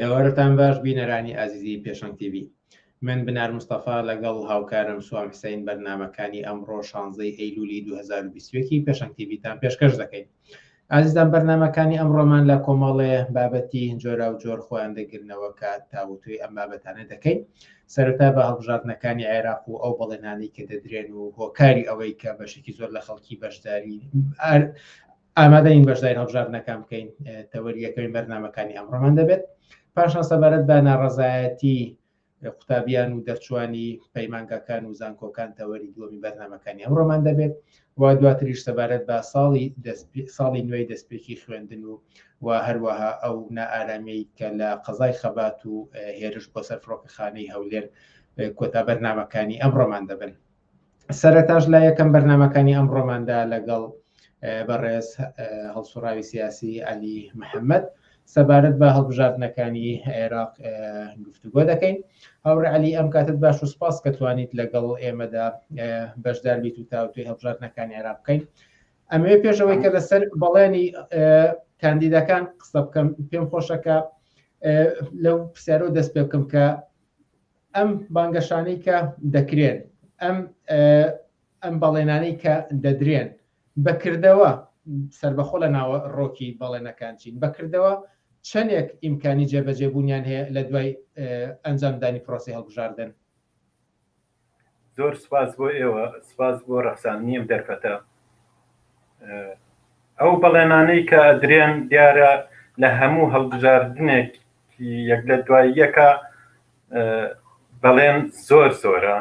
ئێوارەتان باش بینەرانی ئازیزی پێشەنگ تیوی من بنار مستەفا لەگەڵ هاوکارم سوام حسین بەرنمەکانی ئەمڕۆ شانزەی ئەیلولی 2020 پێشەنگ تیویتان پێشکەش دەکەین ئازیزان بەرنمەکانی ئەمڕۆمان لە کۆمەڵێ بابەتی جۆرا و جۆر خۆیان دەگرنەوە کە تاوتوی ئەم بابەتانە دەکەین سەرەتا بە هەڵبژاردنەکانی عێراق و ئەو بەڵێنانی کە دەدرێن و هۆکاری ئەوەی کە بەشێکی زۆر لە خەڵکی بەشداری ئامادەین بەشداری هەڵبژاردنەکان بکەین تەوەریەکەی بەرنمەکانی ئەمڕۆمان دەبێت پاشان سەبارەت بە ناڕزایەتی قوتابیان و دەرچوانی پەیمانگاکان و زانکۆکان تەوەری دووەمی بەرنمەکانی ئەمڕۆمان دەبێت و دواتریش سەبارەت بە ساڵی ساڵی نوێی دەستپێکی خوێندن و و هەروەها ئەو نائارامی کە لە قەزای خەبات و هێرش بۆ سەر فڕۆکەخانەی هەولێر کۆتا بەرنمەکانی ئەمڕۆمان دەبن سەرەتاش لە یەکەم بەرنمەکانی ئەم ڕۆماندا لەگەڵ بەڕێز هەڵسوڕاوی سیاسی علی محەممەد سەبارەت بە هەڵبژاردنەکانی عێراق گفتوگۆ دەکەین هاوڕێ علی ئەم کاتت باش و سپاس کە توانیت لەگەڵ ئێمەدا بەشدار بیت و تاوتوی هەڵبژاردنەکانی عێراق بکەین ئەمەوێ پێشەوەی کە لەسەر بەڵێنی کاندیدەکان قسە بکەم پێم خۆشەکە لەو پرسیارەوە دەست پێ بکەم کە ئەم بانگەشانەی کە دەکرێن، ئەم ئەم بەڵێنانەی کە دەدرێن بەکردەوە سربەخۆ لە ناوە ڕۆکی بەڵێنەکان چین بەکردەوە چەندێک ئیمکانی جێبەجێبوونیان هەیە لە دوای ئەنجامدانی پرۆسی هەڵبژاردن زۆر سپاس بۆ ئێوە سپاس بۆ ڕەخسان نیم دەرفەتە ئەو بەڵێنانەی کە درێن دیارە لە هەموو هەڵبژاردنێک یەک لە دوای یەکە بەڵێن زۆر زۆرە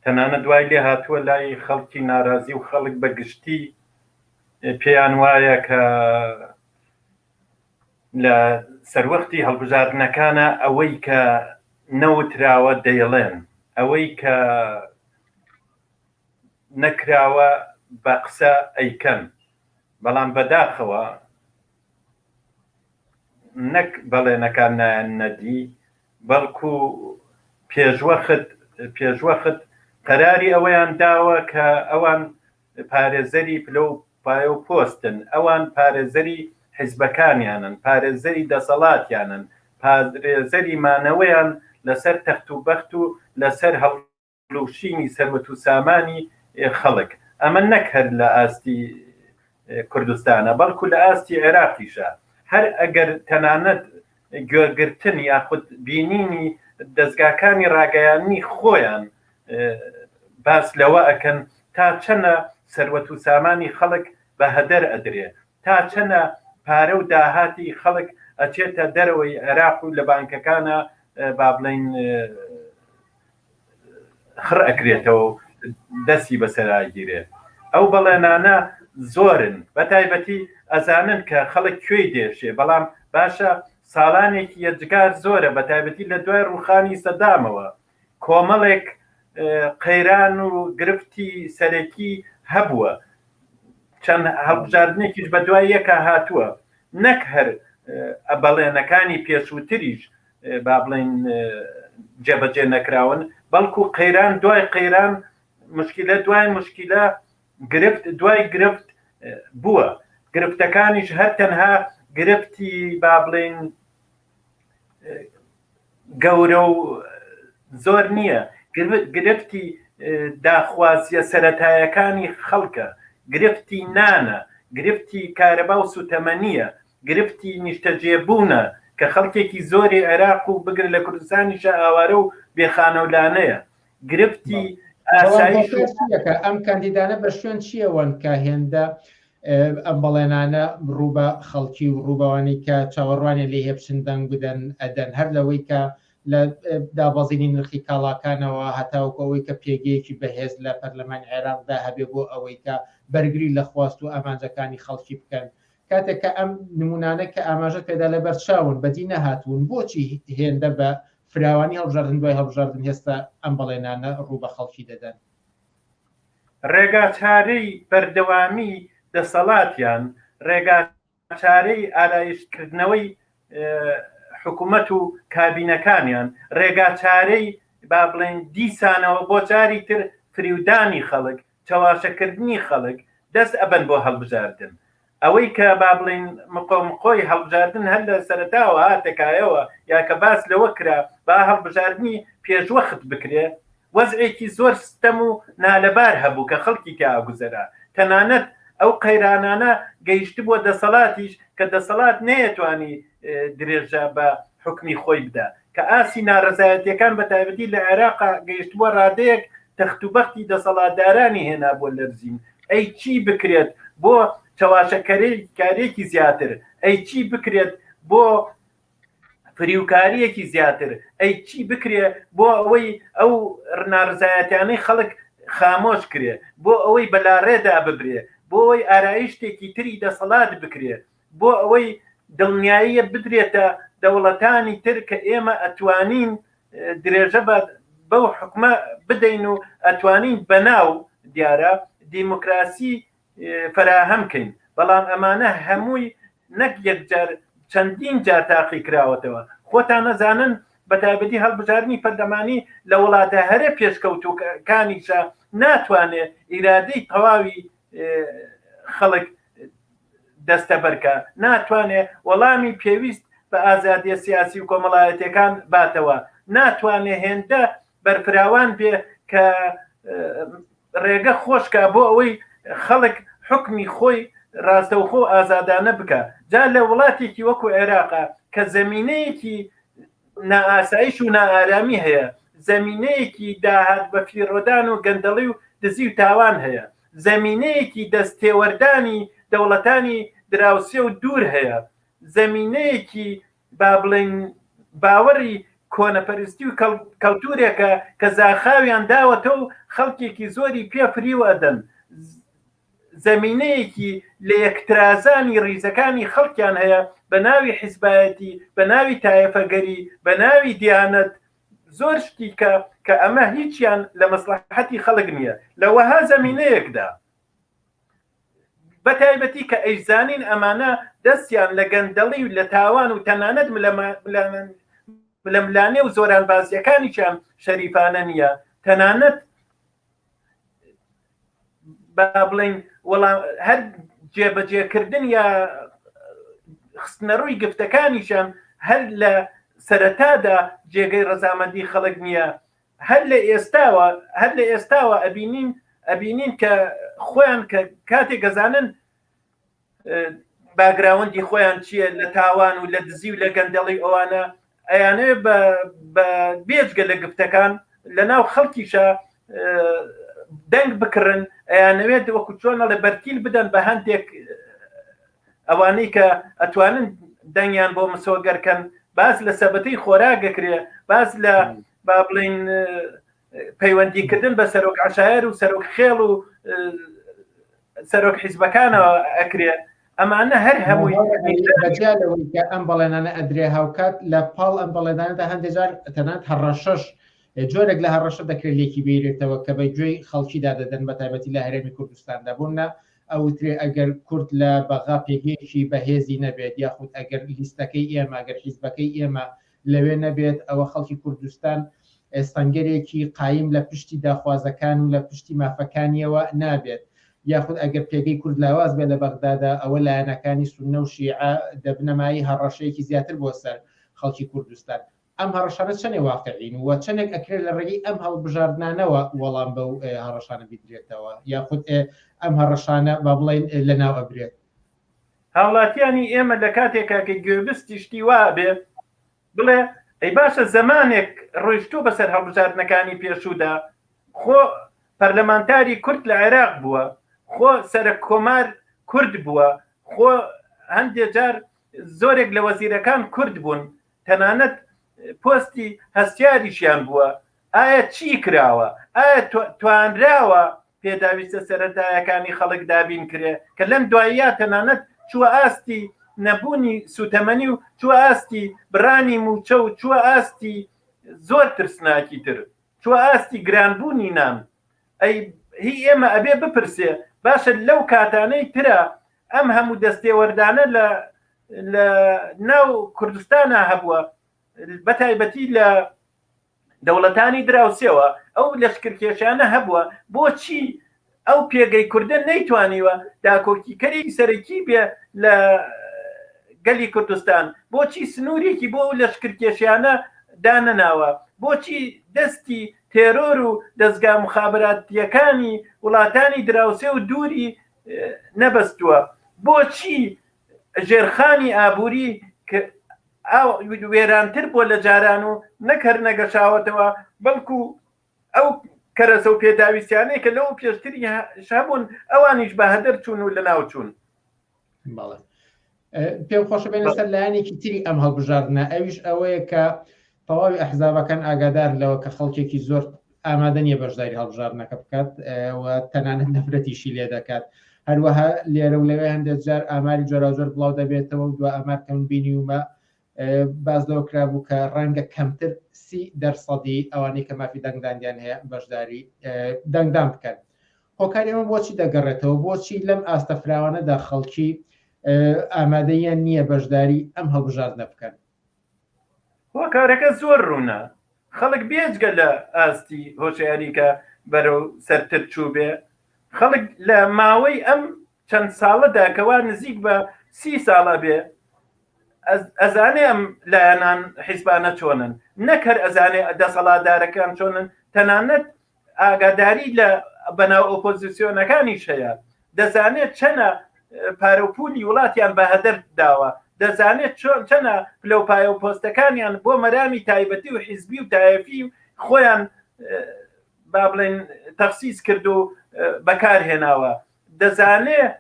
تەنانە دوای لێ هاتووە لای خەڵکی ناراضی و خەڵک بە گشتی پێیان وایە کە لە سەروەختی هەڵبژاردنەکانە ئەوەی کە نەوتراوە دەیڵێن ئەوەی کە نەکراوە بە قسە ئەیکەن بەڵام بەداخەوە نەک بەڵێنەکان نایەننە دی، بەڵکو پێشوەخت قەراری ئەوەیان داوە کە ئەوان پارێزەری پلە و پایە و پۆستن، ئەوان پارێزەری حیزبەکانیانن، پارێزەری دەسەڵاتیانن، پارێزەری مانەوەیان لەسەر تەخت و بەخت و لەسەر هەڵوێستی فرۆشینی سەروەت و سامانی خەڵک ئەمە نەک هەر لە ئاستی کوردستانە بەڵکو لە ئاستی عێراقیشە هەر ئەگەر تەنانەت گوێگرتن یاخود بینینی دەستگاکانی ڕاگەیاننی خۆیان باس لەوە ئەکەن تا چەنە سەروەت و سامانی خەڵک بە هەدەر ئەدرێ تا چەنە پارە و داهاتی خەڵک ئەچێتە دەرەوەی عێراق و لە بانکەکانە با بڵین خڕ ئەکرێتەوە و دەستی بەسەر ئاگیرێت ئەو بەڵێنانە زۆرن بەتایبەتی ئەزانن کە خەڵک کوێی دێشێ بەڵام باشە ساڵانێکی یەجگار زۆرە بەتایبەتی لە دوای ڕوخانی سەدامەوە کۆمەڵێک قەیران و گرفتی سەرەکی هەبووە چەند هەڵبژاردنێکیش بە دوای یەکە هاتووە نەک هەر بەڵێنەکانی پێشووتریش با بڵێن جێبەجێ نەکراون بەڵکو قەیران دوای قەیران مشکلە دوای مشکلە گرفت دوای گرفت بووە گرفتەکانیش هەر تەنها گرفتی با بڵێن گەورە و زۆر نییە گرفتی داخوازیە سەتایەکانی خەڵکە گرفتی نانە گرفتی کارەبا و سوتەمەنیە گرفتی نیشتەجێبوونە کە خەڵکێکی زۆری عێراق و بگرە لە کوردستانیشە ئاوارە و بێ خانە و لانەیە. گرفتی ئاسایش و. ئەم کاندیدانە بە شوێن چییەوەن کە هێندە ئەم بەڵێنانە ڕوو بە خەڵکی و ڕووبەوانی کە چاوەڕوانێ لێ هێ بچن دەنگ بدەن ئەدەن هەر لەوەی کە لە دابەزینی نرخی کاڵاکانەوە هەتاوکە ئەوەی کە پێگەیەکی بەهێز لە پەرلەمانی عێراقدا هەبێ بۆ ئەوەی کە بەرگری لە خواست و ئامانجەکانی خەڵکی بکەن کاتێک کە ئەم نمونانە کە ئاماژەت پێدا لەبەر چاون بەدی نەهاتوون بۆچی هێندە بە فراوانی هەڵبژاردن دوای هەڵبژاردن هێستا ئەم بەڵێنانە ڕوو بە خەڵکی دەدەن؟ ڕێگاچارەی بەردەوامی دەسەڵاتیان ڕێگاچارەی ئارایشتکردنەوەی حکومەت و کابینەکانیان ڕێگاچارەی با بڵێن دیسانەوە بۆ جاری تر فریودانی خەڵک چەواشەکردنی خەڵک دەست ئەبەن بۆ هەڵبژاردن، ئەوەی کە با بڵێین مقۆ مقۆی هەڵبژاردن هەر لە سەرەتاوە هاتە کایەوە یا کە باس لەوە کرا با هەڵبژاردنی پێشوەخت بکرێ وەزعێکی زۆر ستەم و نالەبار هەبوو کە خەڵکی تیا ئەگوزەرا تەنانەت ئەو قەیرانانە گەیشتبووە دەسەڵاتیش کە دەسەڵات نەیەتوانی درێژە بە حوکمی خۆی بدا کە ئاستی نارەزایەتیەکان بە تایبەتی لە عێراقا گەیشتبووە ڕادەیەک تەخت و بەختی دەسەڵاتدارانی هێنا بۆ لەرزین، ئەی چی بکرێت بۆ چەواشەکەرەی کارێکی زیاتر، ئەی چی بکرێت بۆ فریوکاریەکی زیاتر، ئەی چی بکرێ بۆ ئەوەی ئەو نارزایەتیانەی خەڵک خامۆش کرێ، بۆ ئەوەی بەلاڕێدا ببرێ، بۆ ئەوەی ئارایشتێکی تری دەسەڵات بکرێ، بۆ ئەوەی دڵنیاییە بدرێتە دەوڵەتانی تر کە ئێمە ئەتوانین درێژە بە بەو حکومە بدەین و ئەتوانین بەناو دیارە دیموکراسی فراهەم کەین بەڵام ئەمانە هەمووی نەک یەکجار چەندین جار تاقی کراوەتەوە خۆتان نەزانن بە تایبەتی هەڵبژاردنی پەرلەمانی لە وڵاتە هەرە پێشکەوتوەکانیشە ناتوانێت ئیرادەی تەواوی خەڵک دەستەبەرکە ناتوانێ وەڵامی پێویست بە ئازادیە سیاسی و کۆمەڵایەتەکان باتەوە ناتوانێ هێندە بەرفراوان بێ کە ڕێگە خۆشکە بۆ ئەوەی خەڵک حکمی خۆی ڕاستەوخۆ ئازادانە بکە جا لە وڵاتێکی وەکو عێراقا کە زمینەیەکی نائاسایش و نائارامی هەیە، زەمینەیەکی داهات بەفیڕۆدان و گەندەڵی و دزی و تاوان هەیە، زەمینەیەکی دەست تێوەردانی دەوڵەتانی دراوسێ و دوور هەیە، زەمینەیەکی با بڵێین باوەڕی کۆنەپەرستی و کەڵتورێکە کە زاخاویان داوەتەو خەڵکێکی زۆری پێ فریو ئەدەن. زەمینەیەکی لەیەکترازانی ڕیزەکانی خەڵکیان هەیە بە ناوی حیزبایەتی بە ناوی تایەفەگەری بە ناوی دیانەت زۆر شتی کە کە ئەمە هیچیان لە مەسلحەتی خەڵک نییە لە وەها زەمینەیەکدا بە تایبەتی کە ئەیزانین ئەمانە دەستیان لە گەندەڵی و لە تاوان و تەنانەت لەملانێ و زۆران بازیەکانیان شەریفانە نییە تەنانەت با بڵین وەڵام هەر جێبەجێکردن یا خستنەڕووی گفتەکانیشم هەر لە سەرەتادا جێگەی ڕەزامەندی خەڵک نییە هەر لە ئێستاوە هەر لە ئێستاوە ئەبینین ئەبینین کە خۆیان کە کاتێک گەزانن باگراوەندی خۆیان چییە لە تاوان و لە دزی و لە گەندەڵی ئەوانە ئەیانێ بێجگە لە گفتەکان لە ناو خەڵکیشە دەنگ بکڕن ئەیانەوێت وەکو چۆنە لە بەرتیل بدەن بە هەندێک ئەوانەی کە ئەتوانن دەنگیان بۆ مسۆگەرکەن باس لە سەبەتی خۆراگەکرێ باس لە با بڵین پەیوەندیکردن بە سەرۆک عشایر و سەرۆک خێڵ و سەرۆک حیزبەکانەوە ئەکرێت ئەمانە هەر هەموویکە ئەم بەڵێنانە ئەدرێ هاوکات لە پاڵ ئەم بەڵێداندا هەندێجار تەنات هەڕەشەش جۆرێک لە هەڕەشە دەکرێت لێکی بیرێتەوە کە بە گوێی خەڵکیدا دەدەن بە تایبەتی لە هەرێمی کوردستاندا بوونە ئەوترێ ئەگەر کورد لە بەغا پێگەیەکی بەهێزی نەبێت یاخود ئەگەر لیستەکەی ئێمە گەر حیزبەکەی ئێمە لەوێ نەبێت ئەوە خەڵکی کوردستان سەنگەرێکی قایم لە پشتی داخوازەکان و لە پشتی مافەکانیەوە نابێت یاخود ئەگەر پێگەی کورد لاواز بێت لە بەغدادا ئەوە لایەنەکانی سونە و شیعە دەبنە مایەی هەڕەشەیەکی زیاتر بۆ سەر خەڵکی کوردستان ئەم هەڕەشانە چەنێ واقعین و چەندێک ئەکرێت لە ڕێگەی ئەم هەڵبژاردنانەوە وەڵام بە هەڕەشانە بدرێتەوە یاخود ئەم هەڕەشانە با بڵێن لەناو ئەبرێت هاوڵاتیانی ئێمە لە کاتێکا کە گوێبستی شتی وا بێ بڵێ ئەی باشە زەمانێک ڕۆیشتوو بەسەر هەڵبژاردنەکانی پێشوودا خۆ پەرلەمانتاری کورد لە عێراق بووە خۆ سەرک کۆمار کورد بووە خۆ هەندێ جار زۆرێک لە وەزیرەکان کورد بوون تەنانەت پۆستی هەستیاریشیان بووە ئایا چی کراوە؟ ئایا توانراوە پێداویستە سەرەتایەکانی خەڵک دابین کرێ کە لەم دواییە تەنانەت چووە ئاستی نەبوونی سووتەمەنی و چووە ئاستی بڕانی مووچە و چووە ئاستی زۆر ترسناکی تر چووە ئاستی گرانبوونی نان ئەی هی ئێمە ئەبێ بپرسێ باشە لەو کاتانەی ترە ئەم هەموو دەستێوەردانە لە لە ناو کوردستانە هەبووە بەتایبەتی لە دەوڵەتانی دراوسێەوە ئەو لەشکرکێشانە هەبووە بۆچی ئەو پێگەی کوردە نەیتوانیوە داکۆکیکەری سەرەکی بێ لە گەلی کوردستان بۆچی سنوورێکی بۆ لە شکرکێشیانە دانەناوە بۆچی دەستی تێرۆر و دەستگا مخابراتیەکانی وڵاتانی دراوسێ و دووری نەبەستووە بۆچی ژێرخانی ئابووری ئاو وێرانتر بووە لە جاران و نەک هەر نەگەشاوەتەوە بەڵکو ئەو کەرەسە و پێداویستیانەی کە لەو پێشتری هەبوون ئەوانیش بە هەدەر چوون و لە ناو چوون بەڵێ پێم خۆشە بێنە سەر لایەنێکی تری ئەم هەڵبژاردنە ئەویش ئەوەیە کە تەواوی ئەحزابەکان ئاگادار لەوە کە خەڵکێکی زۆر ئامادە نییە بەشداری هەڵبژاردنەکە بکات و تەنانەت نەفرەتیشی لێ دەکات هەروەها لێرە و لەوێ هەندێک جار ئاماری جۆراوجۆر بڵاو دەبێتەوە و دو ئامار کەم بینیومە باز لەوە کرابوو کە ڕەنگە کەمتر سی دەرسەدی ئەوانەی کە مافی دەنگدانیان هەیە بەشداری دەنگدان بکەن هۆکاری ئەمە بۆچی دەگەڕێتەوە بۆچی لەم ئاستە فراوانەدا خەڵکی ئامادەیان نییە بەشداری ئەم هەڵبژاردنە بکەن هۆکارەکە زۆر ڕوونە، خەڵک بێجگە لە ئاستی هۆشیاری کە بەرەو سەرتر چووبێ، خەڵک لە ماوەی ئەم چەند ساڵەدا کە وا نزیک بە سی ساڵ ئەبێ ئەزانێ ئەم لایەنان حیزبانە چۆنن، نەک هەر ئەزانێ دەسەڵاتدارەکان چۆنن، تەنانەت ئاگاداری لە بەناو ئۆپۆزیسیۆنەکانیش هەیە دەزانێت چەنە پارەپولی وڵاتیان بە هەدەر داوە دەزانێت چۆن چەنە لەو پایە و پۆستەکانیان بۆ مەرامی تایبەتی و حیزبی و تایەفی خۆیان با بڵێن تەخسیز کرد و بەکارهێناوە دەزانێت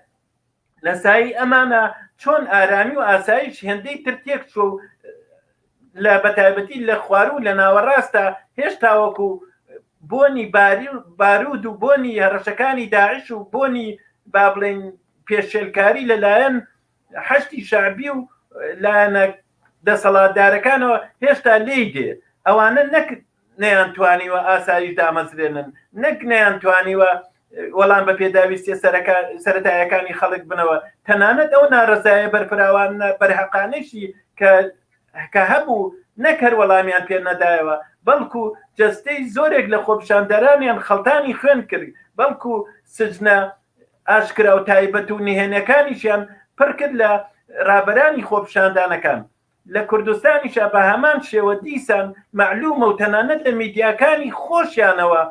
لەسایی ئەمانە چۆن ئارامی و ئاسایش هێندەی تر تێک چۆ و لە بەتایبەتی لە خوار و لە ناوەڕاستە هێشتاوەکو بۆنی باری و بارود و بۆنی هەڕەشەکانی داعش و بۆنی با بڵێن پێشێلکاری لەلایەن حەشتی شعبی و لایەنە دەسەڵاتدارەکانەوە هێشتا لێی دێ ئەوانە نەکرد نەیانتوانیوە ئاسایش دامەزرێنن، نەک نەیانتوانیوە وەڵام بە پێداویستیە سەرەتایەکانی خەڵک بنەوە، تەنانەت ئەو نارەزایە بەرفراوانە بەرهەقانەیشی کە هەبوو نەک هەر وەڵامیان پێ نەدایەوە، بەڵکو جەستەی زۆرێک لە خۆپیشاندەرانیان خەڵتانی خوێن کرد، بەڵکو سجنە ئاشکرا و تایبەت و نهێنێکانیشیان پڕکرد لە رابەرانی خۆپیشاندانەکان. لە کوردستانیشا بە هەمان شێوە دیسان مەعلوومە و تەنانەت لە میدیاکانی خۆشیانەوە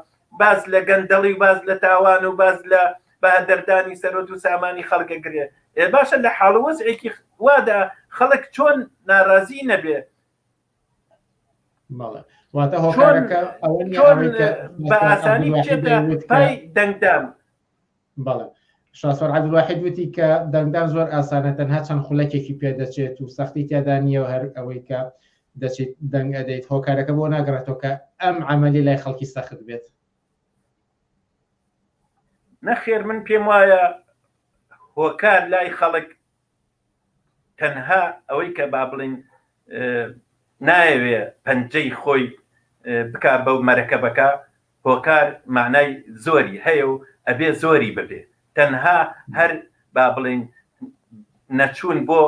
باس لە گەندەڵی و باس لە تاوان و باس لە بەهەدەردانی سەرۆت و سامانی خەڵک ئەگرێ. ئێ باشە لە حاڵ و وەزعێکی وادا خەڵک چۆن نارازی نەبێ؟ بەڵێ. واتە چۆن هۆکارەکە ئەوە نییە چۆن ئەوەی کە بە ئاسانی بچێتە پای دەنگدان؟ بەڵێ شاسوار عەبدولواحید وتی کە دەنگدان زۆر ئاسانە تەنها چەند خولەکێکی پێدەچێت و سەختی تیادا نییە و هەر ئەوەی کە دەچیت دەنگ ئەدەیت هۆکارەکە بۆ ناگەڕێتەوە کە ئەم عملی لای خەڵکی سەخت بێت نەخێر من پێم وایە هۆکار لای خەڵک تەنها ئەوەی کە با بڵێین نایەوێ پەنجەی خۆی بکا بەو مەرەکەبەکە هۆکار معنای زۆری هەیە و ئەبێ زۆری ببێ تەنها هەر با بڵێین نەچوون بۆ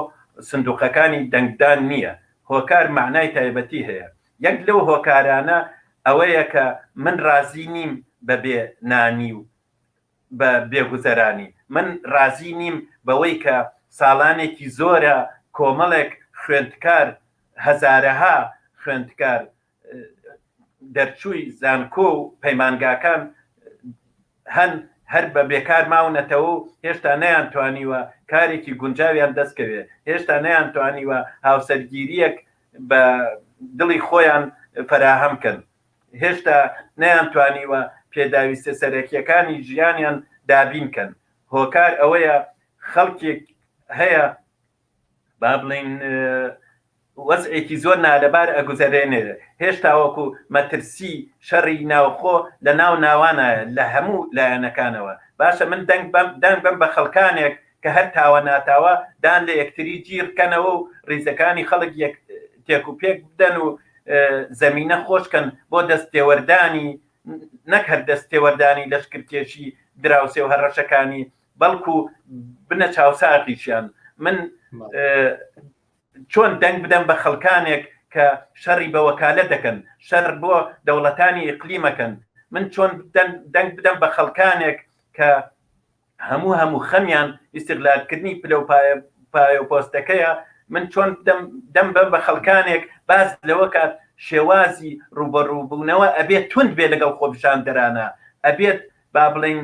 سندوقەکانی دەنگدان نییە هۆکار معنای تایبەتی هەیە یەک لەو هۆکارانە ئەوەیە کە من ڕازی نیم بەبێ نانی و بە بێ گوزەرانی. من رازی نیم بەوەی کە ساڵانێکی زۆرە کۆمەڵێک خوێندکار، هەزارەها خوێندکار دەرچووی زانکۆ و پەیمانگاکان هەن هەر بە بێکار ماونەتەوە و هێشتا نەیانتوانیوە کارێکی گونجاویان دەست کەوێ، هێشتا نەیانتوانیوە هاوسەرگیرییەک بە دڵی خۆیان فەراهەم کەن. هێشتا نەیانتوانیوە پێداویستە سەرەکیەکانی ژیانیان دابین کەن، هۆکار ئەوەیە خەڵکێک هەیە با بڵێین وەزعێکی زۆر نالەبار ئەگوزەرێنێ هێشتا وەکو مەترسی شەڕی ناوخۆ لە ناو ناوانە لە هەموو لایەنەکانەوە باشە من دەنگ بەم دەنگ بەم بە خەڵکانێک کە هەر تاوە ناتاوە دان لە یەکتری جیڕ کەنەوە و ڕیزەکانی خەڵک یەک تێک و پێک بدەن و زەمینە خۆش کەن بۆ دەست تێوەردانی نەک هەر دەست تێوەردانی لەشکرکێشی دراوسێ و هەڕەشەکانی بەڵکو بنە چاوساغیشیان من چۆن دەنگ بدەم بە خەڵکانێک کە شەڕی بە وەکالە دەکەن شەر بۆ دەوڵەتانی ئیقلیمەکەن من چۆن دەنگ بدەم بە خەڵکانێک کە هەموو هەموو خەمیان ئیستغلال کردنی پلە و پایە پایە و پۆستەکەیە من چۆن دەم دەم بەم بە خەڵکانێک باس لەوە کات شێوازی ڕوبەڕوبوونەوە ئەبێت توند بێ لەگەڵ خۆپیشاندەرانە ئەبێت با بڵین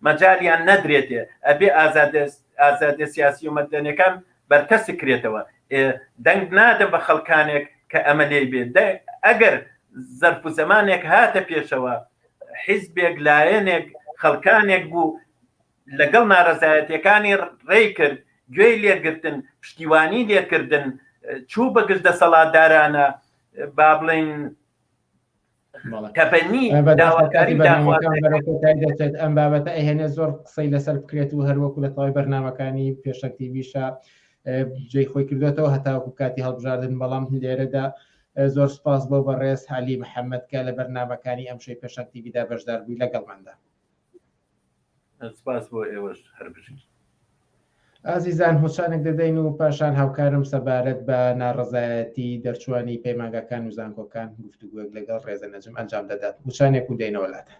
مەجالیان نەدرێتێ ئەبێ ئازادە سیاسی و مەدەنەکان بەرتەس کرێتەوە دەنگ نادەم بە خەڵکانێک کە ئەمە لێ بێت ئەگەر زەرف و زمانێک هاتە پێشەوە حیزبێک لایەنێک خەڵکانێک بوو لەگەڵ نارەزایەتەکانی ڕێ کرد گوێی لێگرتن پشتیوانی لێکردن چوو بەگشت دەسەڵاتدارانە با بڵین تەبەنی داواکاری دەچێت ئەم بابەتە ئەهێنێ زۆر قسەی لەسەر بکرێت و هەروەکو لە تەواوی بەرنمەکانی پێشەکتیویشە جێ خۆی کردێتەوە هەتاکو کاتی هەڵبژاردن بەڵام لێرەدا زۆر سوپاس بۆ بەڕێز عەلی محەمەد کە لە بەرنامەکانی ئەمشەوی پێشەنگ تیڤی دا بەشدار بووی لەگەڵماندا. سوپاس بۆ ئێوەش هەر بژین. ئازیزان هۆچانێک دەدەین و پاشان هاوکارم سەبارەت بە ناڕەزایەتی دەرچووانی پەیمانگاکان و زانکۆکان گفتوگۆیەک لەگەڵ ڕێزە نەجم ئەنجام دەدات وچانێک و دێینەوە لاتان.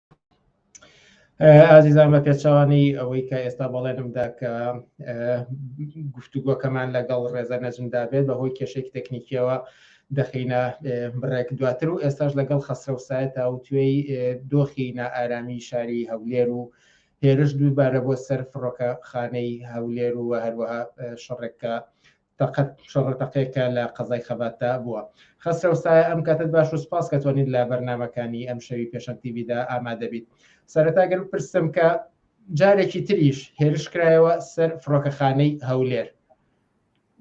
ئازیزان بە پێچوانی ئەوەی کە ئێستا بەڵێنمدا کە گفتوگۆکەمان لەگەڵ ڕێزە نەجمدا بێت بە هۆی کێشێک تەکنیکیەوە دەخینە بڕێک دواتر و ئێستاش لەگەڵ خەسرە و سایە تاوتێی دۆخی نائارامی شاری هەولێر و هێرش دووبارە بۆ سەر فڕۆکە خانەی هەولێر و هەروەها شەڕێکە تەقەت شەڕە تەقەیەک کە لە قەزای خەباتدا بووە. خەسرەو سایە ئەم کاتەت باش و سوپاس کە توانیت لە بەرنامەکانی ئەمشەوی پێشەنگ تی ڤیدا ئامادە بیت. سەرەتا گەر بپرسم کە جارێکی تریش هێرش کرایەوە سەر فڕۆکەخانەی هەولێر.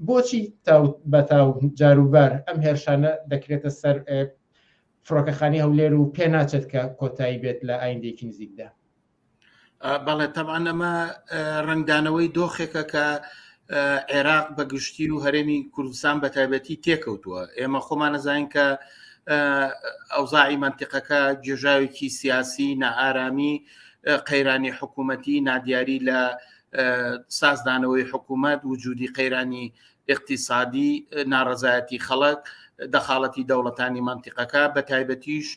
بۆچی تاو بە تاو جاروبار ئەم هێرشانە دەکرێتە سەر فڕۆکەخانی هەولێر و پێ ناچێت کە کۆتایی بێت لە ئایندێکی نزیکدا؟ بەڵێ تەبان ئەمە ڕنگدانەوەی دۆخێکە کە عێراق بە گشتی و هەرێمی کوردستان بە تایبەتی تێکەوتووە ئێمە خۆمان نەزانین کە ئەوزاعی منتیقەکە گێژاوێکی سیاسی نائارامی قەیرانی حکوومەتی نادیاری لە سازدانەوەی حکوومەت وجودی قەیرانی اقتصادی ناڕزایەتی خەڵک دەخاڵەتی دەوڵەتانی منتیقەکە بە تایبەتیش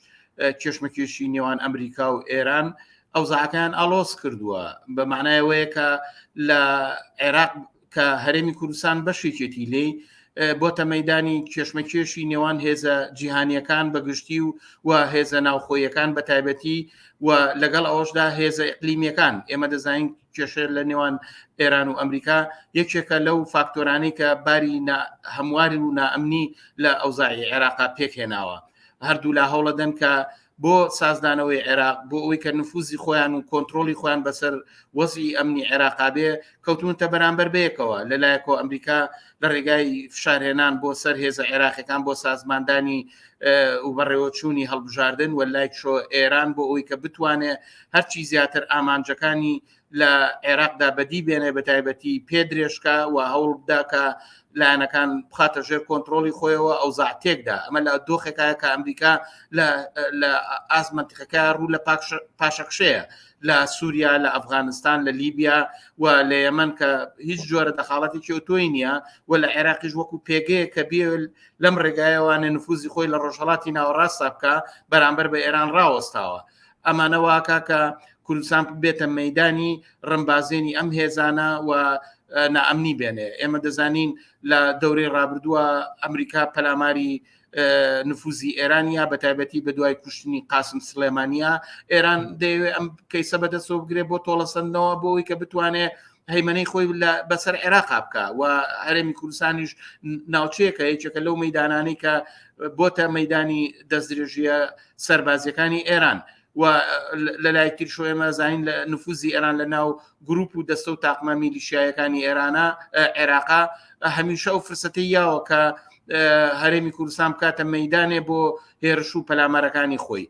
کێشمەکێشی نێوان ئەمریکا و ئێران ئەو زاکەیان ئالۆس کردووە بە معنایەوەیە کە لە عێراق کە هەرێمی کوردستان بەشێکێتی لێ بۆ تەمەدانی کێشمەکێشی نێوان هێزە جیهانیەکان بەگشتی و و هێزە ناوخۆیەکان بە تایبەتی و لەگەڵ ئەوشدا هێزە ئەقلیمیەکان ئێمە دەزانین کێشە لە نێوان ئێران و ئەمریکا یەکێکە لەو فاکتۆرانی کە باری هەمواری و نائەمنی لە ئەوزای عێراقا پێکهێناوە هەردوولا هەوڵەدەن کە بۆ سازدانەوەی عێراق بۆ ئەوی کە نفوزی خۆیان و کۆنتترۆلی خۆیان بەسەر وەزی ئەمنی عێراقابێ کەوتونتە بەرامبەر بەیەکەوە لەلایەکۆ ئەمریکا لە ڕێگای فشارهێنان بۆ سەر هێزە عێراقەکان بۆ سازماندانی و بەڕێوەچوونی هەڵبژاردن و لای شۆ ئێران بۆ ئەوی کە بتوانێت هەرچی زیاتر ئامانجەکانی لە عێراقدا بەدی بێنێ بە تایبەتی پێ درێژکە و هەوڵ بداکە لایەنەکان بخاتە ژێر کۆنتترۆلی خۆیەوە ئەو زاتێکدا ئەمە لە دۆخێکایە کە ئەمریکا لە ئازمەتیقەکە ڕوو لە پاشەکشەیە لە سووریا لە ئەفغانستان لە لیبیا و لە یەمەن کە هیچ جۆرە دەخاڵەتێکی ئۆتۆی نییە و لە عێراقیش وەکو پێگەیە کە بێ لەم ڕێگایەوانە نفوزی خۆی لە ڕۆژهڵاتی ناوەڕاستە بکە بەرامبەر بە ئێران ڕاوەستاوە ئەمانە واکە کە کوردستان بێتە مەدانی ڕمبازێنی ئەم هێزانە و نائەمنی بێنێ ئێمە دەزانین لە دەورەی ڕابردووە ئەمریکا پەلاماری نفوزی ئێرانیا بە تایبەتی بە دوای کوشتنی قاسم سلێمانیا ئێران دەیەوێت ئەم کەیسە بەدەستەوە بگرێت بۆ تۆڵەسەندنەوە بۆی کە بتوانێت هەیمەەی خۆی بەسەر عێراقا بکە و هەرێمی کوردستانیش ناوچەیەکە یەکێکە لەو مەدانانی کە بۆتە مەدانی دەستدرێژیە سربازیەکانی ئێران و لەلای تر شوێمە زین لە نفوزی ئێران لە ناو گروپ و دەستە و تاقمە میلیشایەکانی ئێرانە عێراقا هەمیشە ئەو فرسەتی یاوە کە هەرێمی کوردستان بکاتە مەدانێ بۆ هێرش و پەلامارەکانی خۆی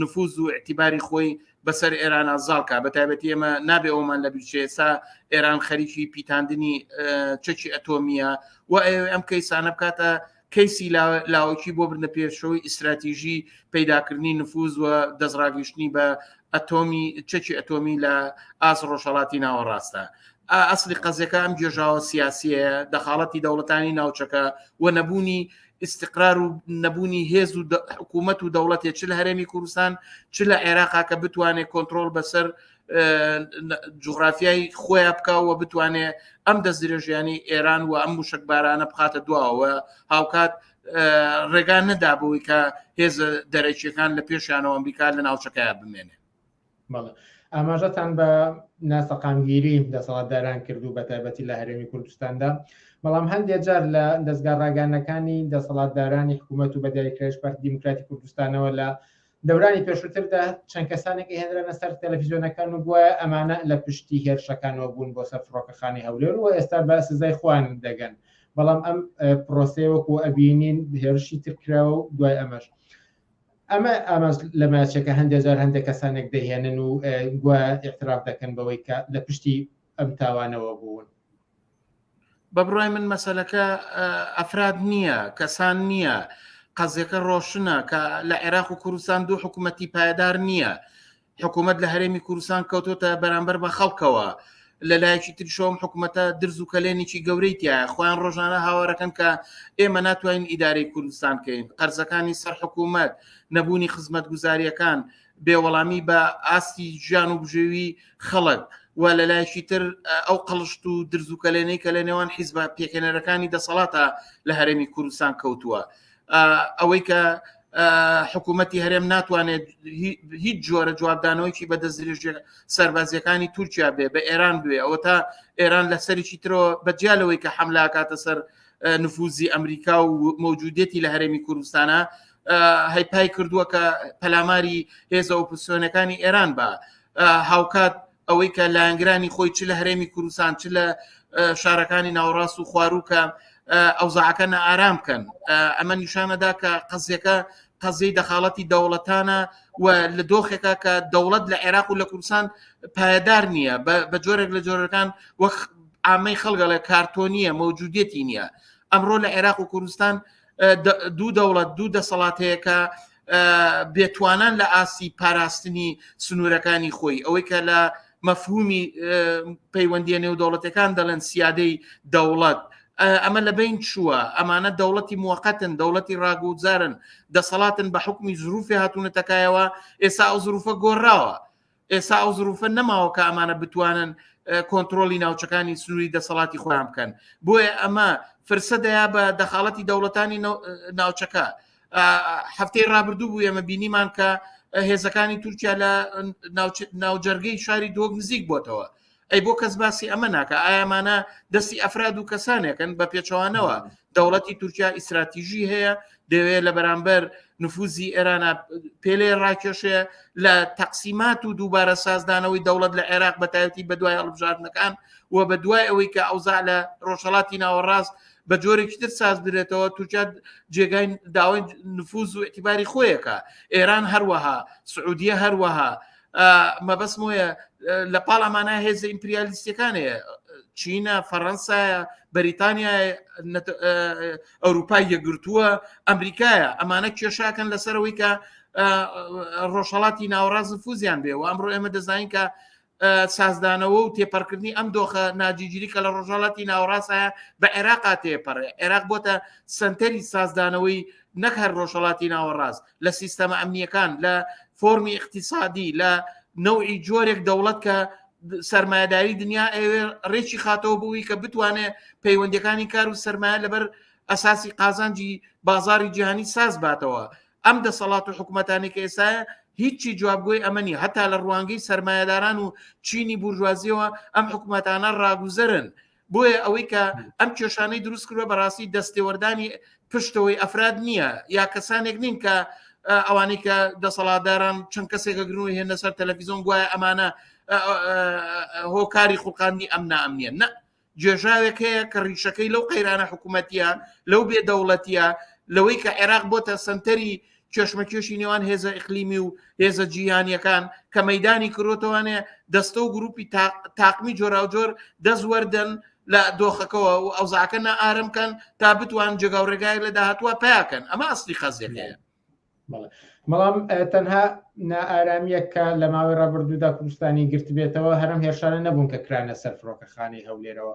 نفوز و اعتیباری خۆی بەسەر ئێرانە زاڵکە بە تایبەتی ئێمە نابێ ئەومان لە بیرچێسا ئێران خەریکی پیتاندنی چەکی ئەتۆمیە و ئەم کەیسانە بکاتە کەیسی لاوەکی بۆ بردە پێشەوەی ئیسراتیژی پەیداکردنی نفوز و دەستڕاگەیشتنی بە ئەتۆمی چەکی ئەتۆمی لە ئاس ڕۆژهڵاتی ناوەڕاستە ئەسلی قەزەکە ئەم گێژاوە سیاسیە دەخاڵەتی دەوڵەتانی ناوچەکە و نەبوونی ئیسقرار و نەبوونی هێز و حکوومەت و دەوڵەتێ چ لە هەرێمی کوردستان چ لە عێراقا کە بتوانێت کۆنتترۆل بەسەر جوغرافیای خۆیان بکەوە بتوانێ ئەم دەست درێژیانی ئێران و ئەم موشکبارانە بخاتە دواوە هاوکات ڕێگان نەدابووی کە هێز دەرەکیەکان لە پێشیانەوە ئەمریکا لە ناوچەکەیان بمێنێ بەڵێ ئاماژەتان بە ناسەقامگیری دەسەڵاتداران کرد و بە تایبەتی لە هەرێمی کوردستاندا بەڵام هەندێ جار لە دەستگا ڕاگەانەکانی دەسەڵاتدارانی حکوومەت و بەدیکرێش پارت دیموکراتی کوردستانەوە لە دەورانی پێشووتردا چەند کەسانێک هێنرانە سەر تەلەفیزیۆنەکان و گوایە ئەمانە لە پشتی هێرشەکانەوە بوون بۆ سەر فڕۆکەخانی هەولێر و ئێستا بە سزای خوان دەگەن بەڵام ئەم پرۆسەیە وەکو ئەبینین هێرشی ترکراوە و دوای ئەمەش ئەمە ئامانج لە ماچەکە هەندێک جار هەندێک کەسانێک دەهێنن و گوایە ئیعتراف دەکەن بەوەی کە لە پشتی ئەم تاوانەوە بوون بە بڕای من مەسلەکە ئەفراد نییە کەسان نییە قەزیەکە ڕۆشنە کە لە عێراق و کوردستان دوو حکوومەتی پایدار نییە حکوومەت لە هەرێمی کوردستان کەوتۆتە بەرامبەر بە خەڵکەوە لە لایەکی ترشۆم حکوومەتە درز و کەلێنێکی گەورەی تایە خۆیان ڕۆژانە هاوارەکەن کە ئێمە ناتوانین ئیدارەی کوردستان کەین قەرزەکانی سەر حکوومەت نەبوونی خزمەت گوزاریەکان بێوەڵامی بە ئاستی ژیان و بژێوی خەڵک و لە لایەکی تر ئەو قەڵشت و درزوکەلێنەی کە لە نێوان حیزبە پێکێنەرەکانی دەسەڵاتە لە هەرێمی کوردستان کەوتووە ئەوەی کە حکوومەتتی هەرێم ناتوانێت هیچ جۆرە جوابدانەوەیکی بە دەستدرێژە سەربازیەکانی تورکیا بێ بە ئێران بێ ئەوە تا ئێران لە سەرێکی ترەوە بەجیالەوەی کە حملاکاتە سەر نفوزی ئەمریکا و مەوجودێتی لە هەرێمی کوردستانە هەیپای کردووە کە پەلاماری هێزە ئۆپسیۆنەکانی ئێران بە هاوکات ئەوەی کە لایەنگرانی خۆی چ لە هەرێمی کوردستان چ لە شارەکانی ناوەڕاست و خواروکە ئەوزاعەکە نەئارام بکەن ئەمە نیشانەدا کە قەزیەکە قەزیی دەخاڵەتی دەوڵەتانە و لە دۆخێکا کە دەوڵەت لە عێراق و لە کوردستان پایدار نییە بە جۆرێک لە جۆرەکان وەک ئامەی خەڵگەڵێ کارتۆنیە مەوجودێتی نییە ئەمڕۆ لە عێراق و کوردستان دوو دەوڵەت دوو دەسەڵات هەیە کە بێتوانان لە ئاسی پاراستنی سنوورەکانی خۆی ئەوەی کە لە مەفهومی پەیوەندیە نێو دەوڵەتەکان دەڵێن سیادەی دەوڵەت ئەمە لە بین چووە ئەمانە دەوڵەتی موقتن دەوڵەتی ڕاگوزارن دەسەڵاتن بە حکومی زروفی هاتوونەتەکایەوە ئێستا ئەو زروفە گۆڕاوە ئێستا ئەو زروفە نەماوە کە ئەمانە بتوانن کۆنتترۆلی ناوچەکانی سنووری دەسەڵاتی خۆیان بکەن بۆیە ئەمە فرسە دەیا بە دەخاڵەتی دەوڵەتانی ناوچەکە هەفتەی رابرردوو بوو ئەمە بینیمان کە هێزەکانی تورکیا لە ناوجەرگەی شاری دۆک نزیک بۆتەوە ئەی بۆ کەس باسی ئەمە ناکە ئایامانە دەستی ئەفراد و کەسانێکن بە پێچەوانەوە دەوڵەتی تورکیا ئیسراتیژی هەیە دەوێت لە بەرامبەر نفوزی ئێرانە پێلێ ڕاکێشێ لە تەقسیمات و دووبارە سازدانەوەی دەوڵەت لە عێراق بەتایەتی بە دوای هەڵبژاردنەکان و بە دوای ئەوەی کە ئەوزا لە ڕۆژهڵاتی ناوەڕاست بە جۆرێکی تر ساز درێتەوە تورکیا جێگای داوای نفوز و اعتیباری خۆیەکە ئێران هەروەها سعودیە هەروەها مەبەست مۆیە لە پاڵ ئەمانە هێزە ئیمپریالیستەکانەیە چینە فەڕەنسایە بەریتانیا ئەوروپای یەگرتووە ئەمریکایە ئەمانە کێشاکەن لەسەرەوەی کە ڕۆژهڵاتی ناوەڕاز فوزیان بێ و ئەمڕۆ ئێمە دەزانین کە سازدانەوە و تێپەرکردنی ئەم دۆخە ناجیگیری کە لە ڕۆژهڵاتی ناوەڕاستە بە عێراقا تێپەڕێ عێراق بۆتە سنتەری سازدانەوەی نەک هەر ڕۆژهڵاتی ناوەڕاست لە سیستەمە ئەمنیەکان لە فۆرمی اقتصادی لە نەوعی جۆرێک دەوڵەت کە سرمایهداری دنیا ئەوێ ڕێکی خاتەوە بووی کە بتوانێت پەیوەندەکانی کار و سرمایە لەبەر ئەساسی قازانجی بازاری جیهانی ساز باتەوە ئەم دەسەڵات و حکوومەتانی کە ئێساە هیچی جوابگوۆی ئەمەنی هەتا لە ڕوانگەی سرمایهداران و چینی بورژوازیەوە ئەم حکوومەتانە ڕاگوزەرن بۆیە ئەوەی کە ئەم کێشانەی دروست کردوە بەڕاستی دەستێوەردانی پشتەوەی ئەفراد نییە یا کەسانێک نین کە ئەوانی کە دەسەڵاتداران چەند کەسێکە گرن و هێنە سەر تەلەفیزۆن گوایە ئەمانە هۆکاری خوڵقاندنی ئەم نامنیە نە جێژاوێک هەیە کە ڕیشەکەی لەو قەیرانە حکوومەتە لەو بێ دەوڵەتە لەوەی کە عێراق بۆتە سنتەری کێشمەکێشی نێوان هێزە ئەقلیمی و هێزە جیهانیەکان کە مەدانی کرۆتەوانێ دەستە و گروپی تاقمی جۆراوجۆر دەستوەردەن لە دۆخەکەەوە و ئەوزاکە نە ئارم کەن تا بتوان جێگا و ڕێگای لە داهتووە پیاکەن ئەمە ئەستی خەزیەکەیە بەڵام تەنها نائارامیەکە لە ماوەی ڕابردوودا کوردستانی گرتبێتەوە هەرم هێرشانە نەبوون کە کرانە سەر فڕۆکەخانی هەولێرەوە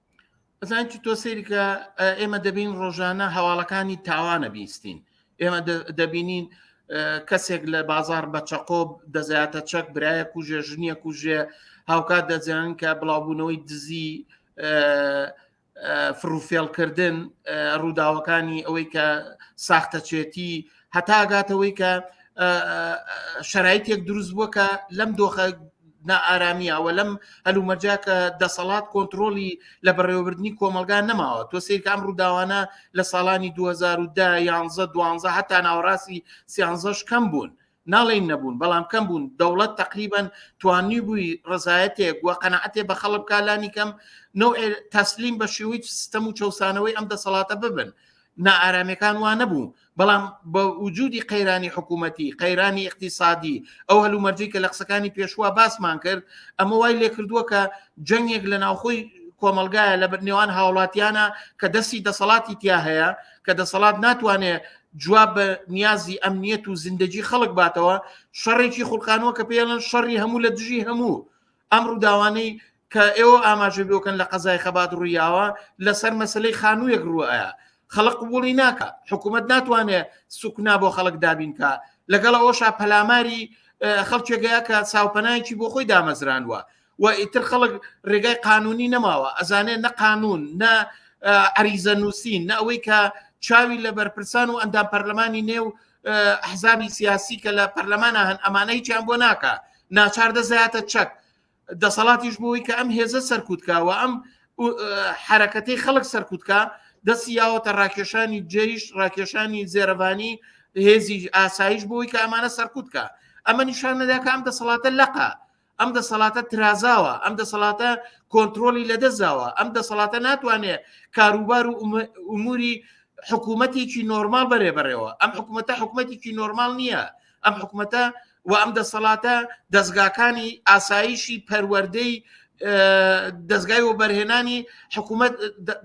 ئەزان چ تۆ سەیرکە ئێمە دەبین ڕۆژانە هەواڵەکانی تاوانە بیستین ئێمە دەبینین کەسێک لە بازار بە چەقۆب دەزیاتە چەک برایە کوژێ ژنیە کوژێ هاوکات دەزیان کە بڵاوبوونەوەی دزی فروفێڵکردن ڕووداوەکانی ئەوەی کە ساختەچێتی هەتا گاتەوەی کە شرایتێک دروست بووە کە لەم دۆخە نائارامیەوە لەم هەلومەرجا کە دەسەڵات کۆنتترۆلی لە بەڕێوەبردننی کۆمەلگا نەماوە تۆ سیرکام ڕووداوانە لە ساڵانی 2010 یانزە دوانزە هەتا ناوەڕاستی سیانزەش کەم بوون ناڵین نەبوون بەڵام کەم بوون دەوڵەت تقریبان توانی بووی ڕزایەتێک و قەنەعەتێ بە خەڵک کالانی کەم نوع تەسلیم بە شێوەی سیستەم و چەسانەوەی ئەم دەسەڵاتە ببن نائارامیەکان وا نەبوو بەڵام بە وجودی قەیرانی حکوومەتی قەیرانی اقتصادی ئەو هەلومەرجی کە لە قسەکانی پێشوە باسمان کرد ئەمە وای لێ کردووە کە جەنگێک لە ناوخۆی کۆمەلگایە لە نێوان هاوڵاتیانە کە دەستی دەسەڵاتی تیا هەیە کە دەسەڵات ناتوانێت جواب بە نیازی ئەمنیەت و زیندەجی خەڵک باتەوە شەڕێکی خولقانەوە کە پێڵن شەڕی هەموو لە دژی هەموو ئەم ڕووداوانەی کە ئێوە ئاماژە بۆکەن لە قەزای خەبات ڕوویاوە لەسەر مەسلەی خانوویەک ڕووەیە خەڵق قوبولی ناکە حکوومەت ناتوانێت سوکنا بۆ خەڵک دابینکە لەگەڵ ئەوشا پەلاماری خەڵکێگەیە کە چاوپەنایکی بۆ خۆی دامەزرانوە و ئیتر خەڵک ڕێگای قانونی نەماوە ئەزانێت نە قانون نە عریزە نووسین نە ئەوەی کە چاوی لە بەرپرسان و ئەندام پەرلەمانی نێو حزابی سیاسی کە لە پەرلەمانە هەن ئەمانە هیچیان بۆ ناکە ناچار دەزایەتە چەک دەسەڵاتیش بۆی کە ئەم هێزە سەرکوتکەوە ئەم حرەکەتی خەڵک سەرکوتکە دەستی یاوەتە ڕاکێشانی جێیش ڕاکێشانی زێرەبانی هێزی ئاسایش بۆی کە ئەمانە سەرکوتکە ئەمە نیشان نەداکە ئەم دەسەڵاتە لەقە ئەم دەسەڵاتە ترازاوە ئەم دەسەڵاتە کۆنتترۆلی لەدەستداوە ئەم دەسەڵاتە ناتوانێت کاروبار و ئوموری حکوومەتێکی نۆرمال بەرێ بەرەوە ئەم حکوومەتە حکوومەتێکی نۆرمال نییە ئەم حکوومەتە و ئەم دەسەڵاتە دەستگاکانی ئاسایشی پەروەەردەی دەستگای و بەرهێنانی حکوومەت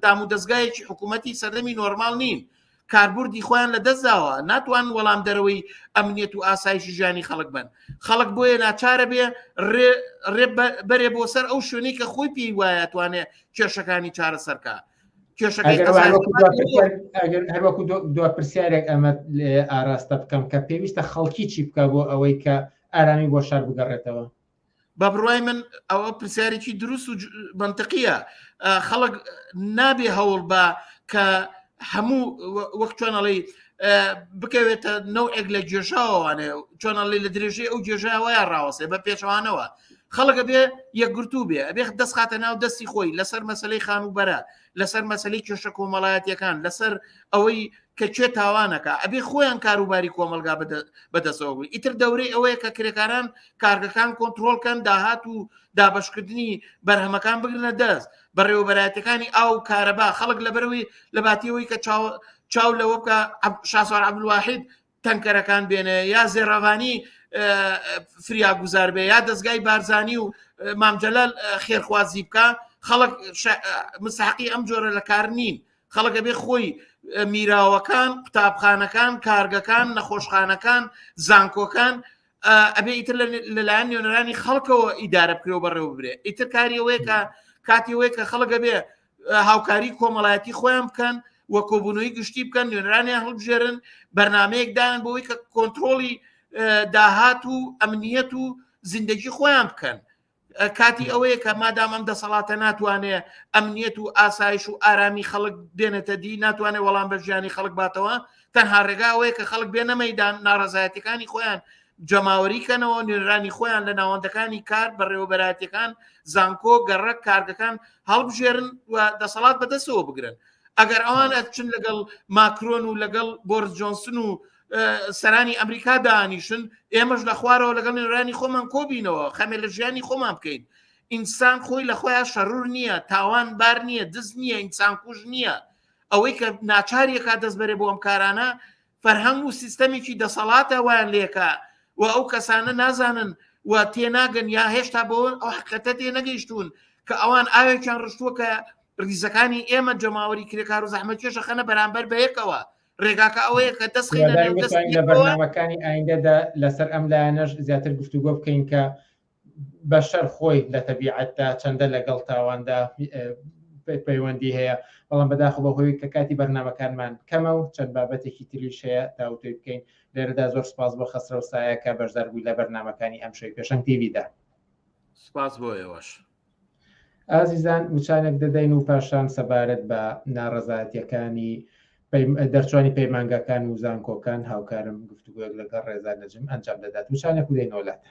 دام و دەستگایەکی حکوومەتتی سەردەمی نۆرمال نین کاربردی خۆیان لە دەستداوە ناتوان وەڵام دەرەوەی ئەمنیەت و ئاسایش ژیانی خەڵک بن خەڵک بۆیە ناچارە بێ ڕێ بەرێ بۆ سەر ئەو شوێنی کە خۆی پێی وایە توانێ کێشەکانی چارە سەرکە هەروەکو دو پرسیارێک ئەمە ئاراستە بکەم کە پێویستە خەڵکی چی بکە بۆ ئەوەی کە ئارامی بۆ شار بگەڕێتەوە بە بڕای من ئەوە پرسیارێکی دروست و بنتەقیە خەڵک نابێ هەوڵ بە کە هەموو وەختوانەڵی بکەوێتە نەوەک لە گێژاوانێ چۆنەڵی لە درێژەی ئەو گێژاوەیە ڕاوەسێ بە پێچوانەوە خەڵکە بێ یەکگرتو بێ ئەبێ دەست خاتە ناو دەستی خۆی لەسەر مەسلەی خان و بەرە لەسەر مەسلی کێشە کۆمەڵایەتەکان لەسەر ئەوەی کە کوێ تاوانەکە ئەبێ خۆیان کاروباری کۆمەلگا بەدەسەوە بووی ئیتر دەورەی ئەوەیە کە کرێکاران کارگەکان کۆنتترۆلکەن داهات و دابشکردنی بەرهەمەکان بگرنە دەست بەڕێوەبەراتەکانی ئاو کارەبا خەڵک لەبەروی لە باتیەوەی کە چاو لەوە بکە شاسوار عبدواحید تەنکەرەکان بێنێ یا زێڕەوانی فریاگوزار بێ یا دەستگای بارزانانی و مامجلل خێرخوازی بکە خەڵک مساقی ئەم جۆرە لە کار نین خەڵکە بێ خۆی میراوەکان قوتابخانەکان کارگەکان نەخۆشخانەکان زانکۆکان ئەبێ ئیتر لەلایەن نوێنەرانی خەڵکەوە ئیدارە بکرێەوە بەڕێوە برێ ئیتر کاریەوەیکە کاتیەوەی کە خەڵگە بێ هاوکاری کۆمەڵایەتی خۆیان بکەن و کۆبوونەوەی گشتی بکەن نوێنرانیان هەڵبژێرن بەرنمەیەکدان بۆی کە کۆنتترۆلی داهات و ئەمنیەت و زیندگی خۆیان بکەن کاتی ئەوەیە کە مادام ئەم دەسەڵاتە ناتوانێ ئەمنیەت و ئاسایش و ئارامی خەڵک بێنێتە دی ناتوانێت وەڵام بە ژیانی خەڵک باتەوە تەنها ڕێگاوەیە کە خەڵک بێنە مەدان ناڕزایەتەکانی خۆیان جەماوەری کەنەوە نوێنرانی خۆیان لە ناوەندەکانی کار بەڕێوەبەراتەکان زانکۆ گەڕک کارگەکان هەڵبژێرن و دەسەڵات بەدەستەوە بگرن ئەگەر ئەوان ئەچن لەگەڵ ماکرۆن و لەگەڵ بۆرس جۆنسن و سەرانی ئەمریکا دانیشن ئێمەش لە خوارەوە لەگەڵ نوێنرانی خۆمان کۆبینەوە خەمێ لە ژیانی خۆمان بکەین ئینسان خۆی لە خۆیان شەرور نییە تاوان بار نییە دز نییە ئینسان کوژ نییە ئەوەی کە ناچاریەکە دەست بەرێ بۆ ئەم کارانە فەرهەنگ و سیستەمێکی دەسەڵاتە وایان لێکە و ئەو کەسانە نازانن و تێناگەن یا هێشتا بۆ ئەو حقەتە تێ نەگەیشتون کە ئەوان ئاوێکیان ڕشتووە کە ریزەکانی ئێمە جەماوەری کرێکار و زەحمە کێشە خەنە بەرامبەر بەیەکەوە ڕێگاکە ئەوەیە کە دەست لە بەرنامەکانی ئایندەدا لەسەر ئەم لایەنەش زیاتر گفتوگۆ بکەین کە بەشەر خۆی لە تەبیعەتدا چەندە لەگەڵ تاواندا پەیوەندی هەیە بەڵام بەداخ بەهۆی کە کاتی بەرنمەکانمان کەمە و چەند بابەتێکی تریش هەیە تاوتۆی بکەین لێرەدا زۆر سپاس بۆ خەسرە و سایە کە بەشدار بووی لە بەرنمەکانی ئەم شوی پێشنگ تیویدا سپاس بۆ ئێوەش ئازیزان وچانێک دەدەین و پاشان سەبارەت بە ناڕزاتیەکانی دەرچوانی پەیمانگاکان و زانکۆکان هاوکارم گفتوگوێک لەگەڵ ڕێزا نەجم ئەنجام دەدات وچانێک و دەینۆلاتە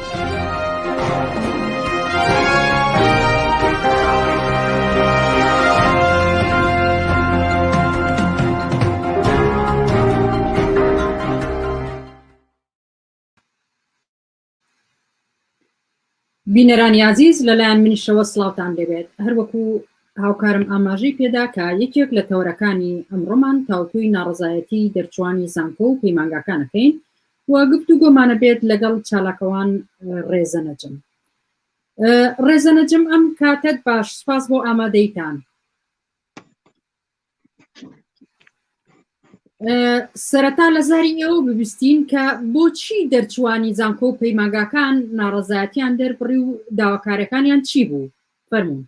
بینەرانی ئازیز لەلایەن منیشەوە سلااوان لەبێت هەروەکو هاوکارم ئاماژەی پێدا کە یەکێک لە تەوەرەکانی ئەمڕۆمان تاوتوی ناڕزایەتی دەرچوانی زانکۆ و پەیمانگاکانەکەین و گفتوگۆمانە بێت لەگەڵ چالاکەوان ڕێزە نەجم ڕێزە نەجم ئەم کاتت باش سپاس بۆ ئامادەیتان سەرەتا لە زاری ئێوە ببیستین کە بۆچی دەرچوانی زانکۆ و پەیماگاکان ناڕەزایەتیان دەربڕی و داواکارەکانیان چی بوو فەرمونون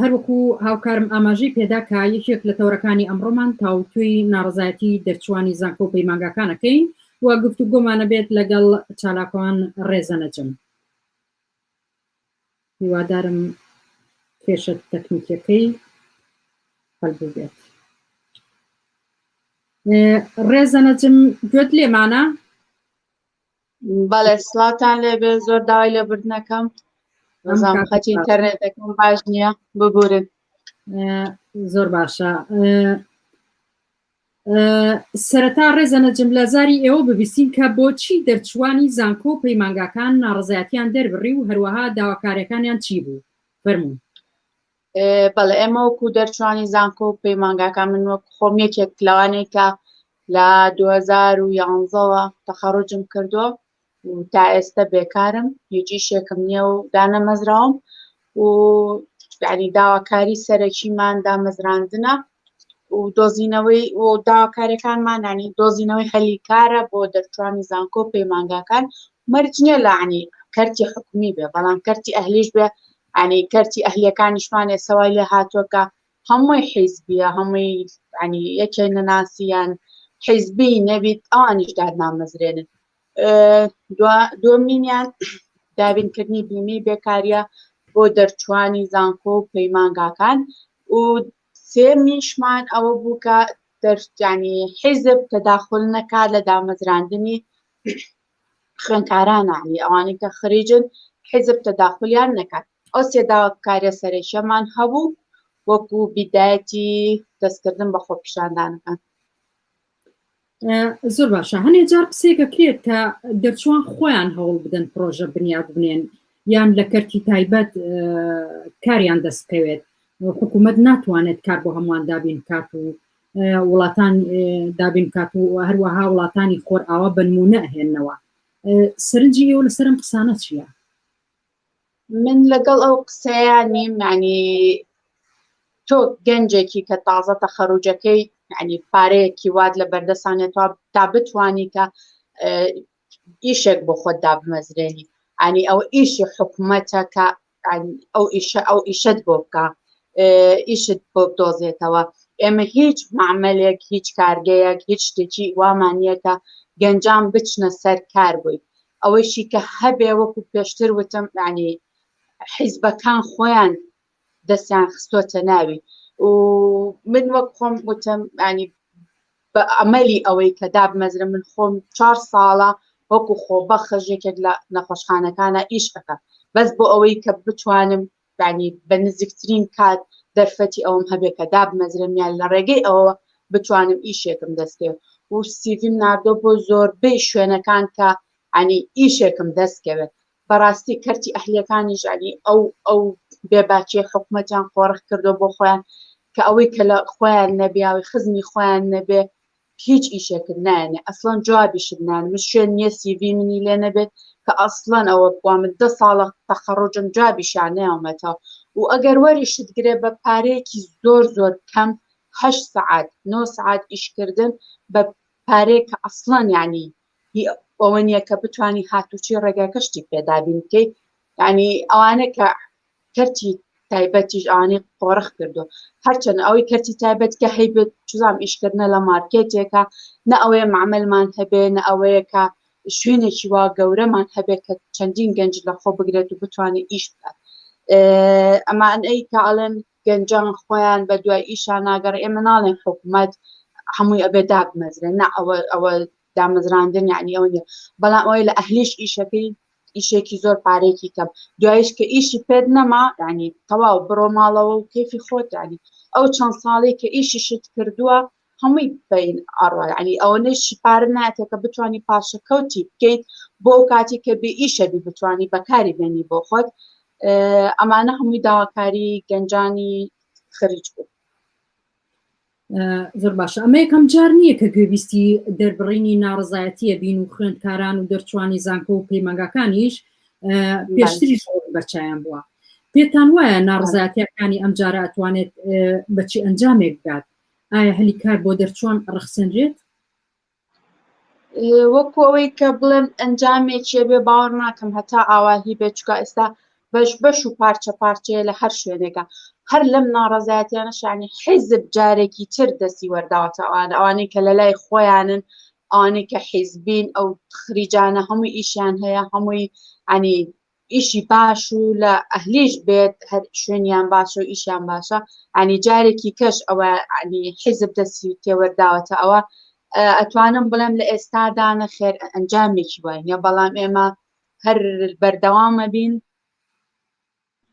هەروەکو هاوکارم ئاماژەی پێدا کە یەکێک لە تەوەرەکانی ئەمڕۆمان تاوتوێی ناڕەزایەتی دەرچووانی زانکۆ و پەیمانگاکانەکەین و گفتوگۆمانەبێت لەگەڵ چالاکوان ڕێزە نەجم هیوادارم کێشە تەکنیکیەکەی هەلبوو بێت ڕێزە نەجم گوێت لێمانە بەڵێ سڵاتان لێبێ زۆر داوای لە بردنەکەم نظام خەتی ئینتەرنێتەکەم باش نییە ببورن زۆر باشە سەرەتا ڕێزە نەجم لە زاری ئێوە ببیستین کە بۆچی دەرچوانی زانکۆ و پەیمانگاکان ناڕزایەتیان دەربڕی و هەروەها داواکارەکانیان چی بوو فەرمونون بەڵێ ئێمە وەکو دەرچوانی زانکۆ و پەیمانگاکان من وەک خۆم یەکێک لەوانەی کە لە 2011ەوە تەخەڕجم کردووە و تا ئێستا بێکارم هیچی شێکم نییە و دانەمەزراوم و ینی داواکاری سەرەکیمان دامەزراندنە و دۆزینەوەی و داواکارەکانمانانی دۆزینەوەی هەلی کارە بۆ دەرچوانی زانکۆ پەیمانگاکان مەرجنیە لەعنی کەرتی حکومی بێ بەڵام کەرتی ئەهلیش بێ یانی کەرتی ئەهلیەکانیشمانێ سەوای لێ هاتوە کە هەمووی حیزبیە هەمووی یانی یەکێ نەناسیان حیزبی نەبیت ئەوانیش دادنامەزرێنن دومینیان دابینکردنی بیمی بێکاریە بۆ دەرچوانی زانکۆ و پەیمانگاکان و سێمیشمان ئەوە بوو کە دەرجانی حیزب تەداخل نەکات لە دامەزراندنی خوێندکاران یانی ئەوانەی کە خریجن حیزب تەداخولیان نەکات ئەو سێ داواکاریە سەرەکیەمان هەبوو وەکو بیدایەتی دەستکردن بە خۆپیشاندانەکان زۆر باشە هەنێ جار قسێک دەکرێت کە دەرچوان خۆیان هەوڵ بدەن پرۆژە بنیاد بنێن یان لە کەرتی تایبەت کاریان دەستکەوێت حکوومەت ناتوانێت کار بۆ هەمووان دابین کات و وڵاتان دابین کات و هەروەها وڵاتانی خۆر ئاوا بنمونە هێنەوە سەرنجی ئێوە لەسەرم قسانە چییە من لەگەڵ ئەو قسەیە نیمانی تۆ گەنجێکی کە تازە تەخەروجەکەی ینی پارەیەکی وات لە بەردەسانێتوە تا بتانی کە ئیشێک بۆ خۆت دابمەزرێنی ئەنی ئەو ئیشی حکومەتە کە ئەو ئیشە ئەو ئیشت بۆ بکە ئیشت بۆ بدۆزێتەوە ئێمە هیچ معملێک هیچ کارگەیەک هیچ شتێکی وامانیەکە گەنجان بچنە سەر کار بووین ئەوەیشی کە هەبێ وەکو پێشتر وتم ینی حیزبەکان خۆیان دەستیان خستۆتە ناوی و من وەک خۆم وتم ینی بە ئەمەلی ئەوەی کە دابمەزرە من خۆم چوار ساڵە وەکو خۆ بەخش یەکێک لە نەخۆشخانەکانە ئیش ئەەکە بەس بۆ ئەوەی کە بتوانم ینی بە نزیکترین کات دەرفەتی ئەوم هەبێ کە دابمەزرمیان لە ڕێگەی ئەوە بتوانم ئیشێکم دەستێ و سیڤیم نردۆ بۆ زۆربەی شوێنەکان کە ینی ئیشێکم دەستکەوێت بەڕاستی کەرتی ئەهلیەکانیش ینی ئەو ئەو بێ باکیە حکومەتیان قۆرخ کردوە بۆ خۆیان کە ئەوەی کە لە خۆیان نەبیاوی خزمی خۆیان نەبێ هیچ ئیشێکت نایەنێ ئەسڵەن جوابیشت نایەنێ من شوێن نیە سی ڤی منی لێ نەبێت کە ئەسڵەن ئەوە بوە من دە ساڵە تەخەڕوجم جوابیشیان نەیەومەتەوە و ئەگەر وەریشت گرێ بە پارەیەکی زۆر زۆر کەم هەشت سەعات نۆ سەعات ئیشکردن بە پارەیەک کە ئەسڵەن یانی هی ئەوە نیە کە بتوانی هاتوچۆی ڕێگاکە شتی پێ دابین بکەی یانی ئەوانە کە کەرتی تایبەتیش ئەوانەی قۆڕخ کردو هەرچەند ئەوەی کەرتی تایبەت کە هەیبت چزام ئیشکردنە لە مارکێتێکە نە ئەوەیە مەعمەلمان هەبێ نە ئەوەیە کە شوێنێکی وا گەورەمان هەبێت کە چەندین گەنج لە خۆ بگرێت و بتوانێت ئیش بکات ئەمانەی کاڵێن گەنجان خۆیان بە دوای ئیشا ناگەڕێ ئێمە ناڵێن حکومەت هەمووی ئەبێ دابمەزرێ نا ئەوە ئەوە دامەزراندن یعنی ئەوە نیە بەڵام ئەوەی لە ئەهلیش ئیشەکەی ئیشێکی زۆر پارێکی کەم دوایش کە ئیشی پێت نەما ینی تەواو بڕۆ ماڵەوە و کەفی خۆتانی ئەو چەند ساڵی کە ئیشیشت کردووە هەمووی بەین ئەڕا یەعنی ئەوەنەیشی پارە نایەتێ کە بتوانی پاشەکەوتی بکەیت بۆ ئەو کاتی کە بێ ئیشە بی بتوانی بەکاری بێنی بۆ خۆت ئەمانە هەمووی داواکاری گەنجانی خەریج بوو زۆر باشە ئەمە یەکەم جار نییە کە گوێبیستی دەربڕینی ناڕزایەتیە بین و خوێندکاران و دەرچوانی زانکۆ و پەیمانگاکانیش پێشتری بەرچیان بووە پێتان وایە ناڕزایەتەکانی ئەم جارە ئەتوانێت بەچی ئەنجامێک بدات ئایا هەلی کار بۆ دەرچوان ڕەخسێنرێت؟ وەکو ئەوەی کە بڵێن ئەنجامێکێ بێ باوەڕ ناکەم هەتا ئاواهی بێت چکە ئێستا بەش بەش و پارچە پارچەیە لە هەر شوێنێکە هەر لەم ناڕزایەتیانە شانی حیزب جارێکی تر دەستی وەرداوەتە ئەوان ئەوانەی کە لە لای خۆیانن ئەوانەی کە حیزبین ئەو خریجانە هەموو ئیشیان هەیە هەمووی ئەنی ئیشی باش و لە ئەهلیش بێت هەر شوێنیان باشە و ئیشیان باشە ئەنی جارێکی کەش ئەوە ئەنی حیزب دەسی تێوەرداوەتە ئەوە ئەتوانم بڵێم لە ئێستادانە خێر ئەنجامێکی وایە بەڵام ئێمە هەر بەردەوامە بین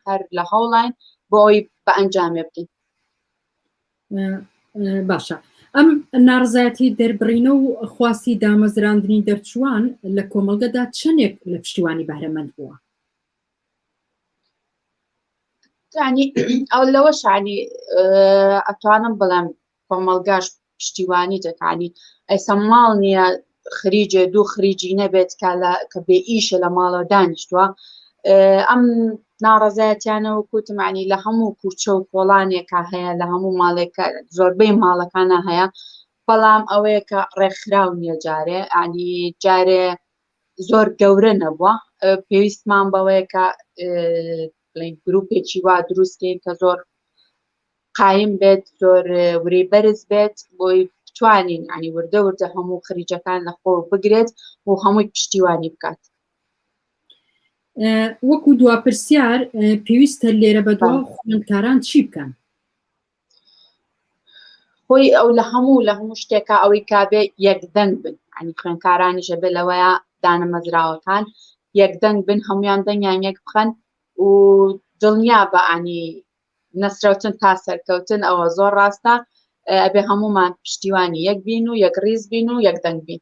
هەر لە هەوڵین بۆ ئەوی بە ئەنجامێ بکەین باشە ئەم ناڕزایەتی دەربڕینە و خواستی دامەزراندنی دەرچووان لە کۆمەڵگەدا چەندێک لە پشتیوانی بەرەمەند بووە ینی ئەو لەوە شانی ئەتوانم بڵێم کۆمەڵگاش پشتیوانی دەکانی ئەیسە ماڵ نییە خریجێ دوو خریجی نەبێت کە بێ ئیشە لە ماڵەوە دانیشتووە ئەم ناڕەزایەتیانە و کوتمانی لە هەموو کوچە و کۆڵانێکە هەیە لە هەموو ماڵێکە زۆربەی ماڵەکانە هەیە بەڵام ئەوەیە کە ڕێکخراو نیە جارێ ئەنی جارێ زۆر گەورە نەبووە پێویستمان بەوەیە کە گرروپێکی وا دروستکەین کە زۆر قایم بێت زۆر ورەی بەرز بێت بۆی بتوانین ینی وردە وردە هەموو خریجەکان لە خۆ بگرێت و هەمووی پشتیوانی بکات وەکو دوا پرسیار پێویستە لێرە بە دوا خوێندکاران چی بکەن خۆی ئەو لە هەموو لە هەموو شتێکە ئەوەی کابێ یەکدەنگ بن ئەنی خوێندکارانی ژەبێ لەوەیە دانە مەزراوەکان یەکدەنگ بن هەمویان دەنگیان یەک بخەن و دڵنیا بە ئانی نەسرەوتن تا سەرکەوتن ئەوە زۆر ڕاستە ئەبێ هەمومان پشتیوانی یەک بین و یەک ڕیز بین و یەک دەنگ بین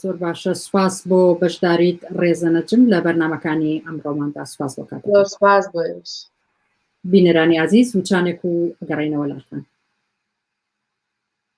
زۆر باشە سوپاس بۆ بەشداریت ڕێزەنەجم لە بەرنمەکانی ئەمڕۆماندا سوپاس بۆ کات سوپاس بۆ بینەرانی عزیز وچانێک و گەڕینەوە لاخان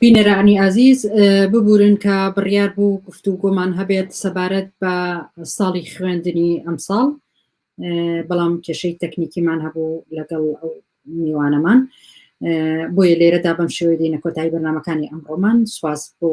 بینەرانی ئازیز ببورن کە بڕیار بوو گفت و گۆمان هەبێت سەبارەت بە ساڵی خوێندنی ئەمساڵ بەڵام کێشەی تەکنیکیمان هەبوو لەگەڵ ئەو میوانەمان بۆیە لێرەدا بەم شێوەی دینە کۆتایی بەرنمەکانی ئەمڕۆمان سواز بۆ